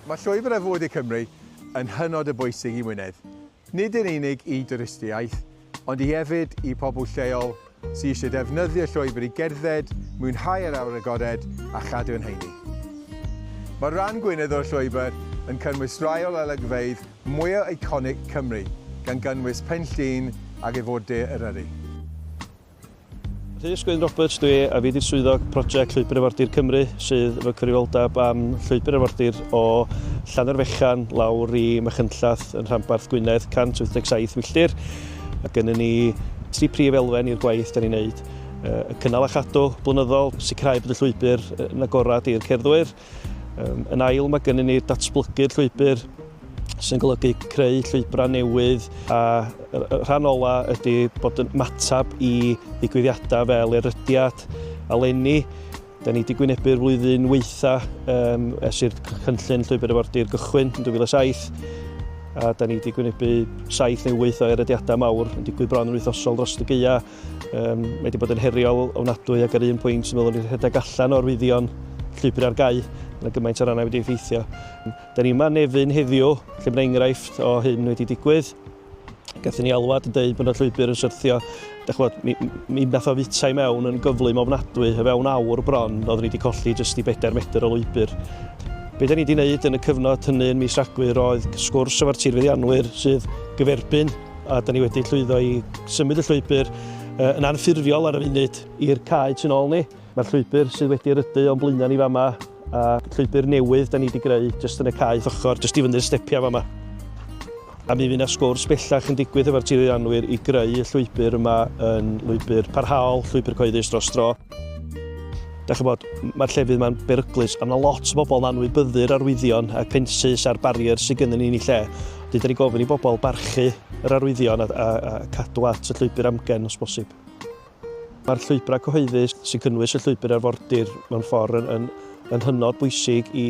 Mae llwybr ar fwyd i Cymru yn hynod o bwysig i Wynedd, nid yn unig i dwristiaeth, ond i hefyd i pobl lleol sydd eisiau defnyddio llwybr i gerdded, mwynhau yr awyr agored a chadw yn heini. Mae rhan Gwynedd o'r llwybr yn cynnwys rai o olygfeydd mwya eiconig Cymru, gan gynnwys Pen Llŷn ac ef o De Eryri. Rhys Gwyn Roberts dwi a fi di'r swyddog prosiect Llwybr Arfordir Cymru sydd efo cyfrifoldeb am Llwybr Arfordir o Llannerfechan lawr i Machynllath yn rhanbarth Gwynedd 187 milltir. Mae gennym ni tri prif elfen i'r gwaith da ni'n neud. Y cynnal a chadw blynyddol, sicrhau bod y llwybr yn agorad i'r cerddwyr, Um, yn ail, mae gennym ni datblygu'r llwybr sy'n golygu creu llwybrau newydd a rhan ola ydy bod yn matab i ddigwyddiadau fel erydiad a lenni. Da ni wedi gwynebu'r flwyddyn weitha um, es i'r cynllun llwybr efordir gychwyn yn 2007 a da ni wedi gwynebu saith neu wyth o erediadau mawr yn digwydd bron yn wythnosol dros y geia Um, mae wedi bod yn heriol ofnadwy ac ar un pwynt yn meddwl i'r rhedeg allan o'r fuddion llwybr ar gau yn y gymaint o rannau wedi effeithio. Da ni yma nefyn heddiw lle mae enghraifft o hyn wedi digwydd. Gathen ni alwad yn dweud bod y llwybr yn syrthio. Da chwod, mi, mi nath o fwyta i mewn yn gyflym ofnadwy, y fewn awr bron, oeddwn ni wedi colli jyst i bedair metr o lwybr. Be da ni wedi wneud yn y cyfnod hynny yn mis Rhagfyr oedd sgwrs efo'r tirfeddianwyr sydd gyferbyn A da ni wedi llwyddo i symud y llwybr yn anffurfiol ar y funud i'r cae tu ôl ni. Mae'r llwybr sydd wedi rydu o'n blaenau ni fama, a llwybr newydd da ni wedi greu jyst yn y cae ochr, jyst i fyny'r stepiau fama. A mi fydd yna sgwrs bellach yn digwydd efo'r tirwyddannwyr i greu y llwybr yma yn lwybr parhaol, llwybr cyhoeddus dros dro. Da chi bod, mae'r llefydd yma'n beryglus, a mae lot o bobl yn anwybyddu'r arwyddion a'r pensus a'r barriers sydd gennym ni yn ei lle. Dwi wedi gofyn i bobl barchu yr arwyddion a, a, a cadw at y llwybr amgen os bosib. Mae'r llwybrau cyhoeddus sy'n cynnwys y llwybr arfordir mewn ffordd yn, yn, yn hynod bwysig i,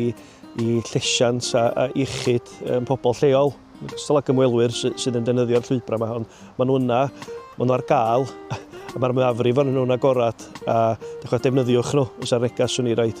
i llesiant a, a iechyd um, pobl lleol. Gystal ag ymwelwyr sy, sydd yn defnyddio'r llwybrau yma, ond maen nhw yna, maen nhw ar gael, a mae'r mwyafrif o'n nhw'n agorad, a dechrau defnyddiwch nhw, os ar negas swn i raid.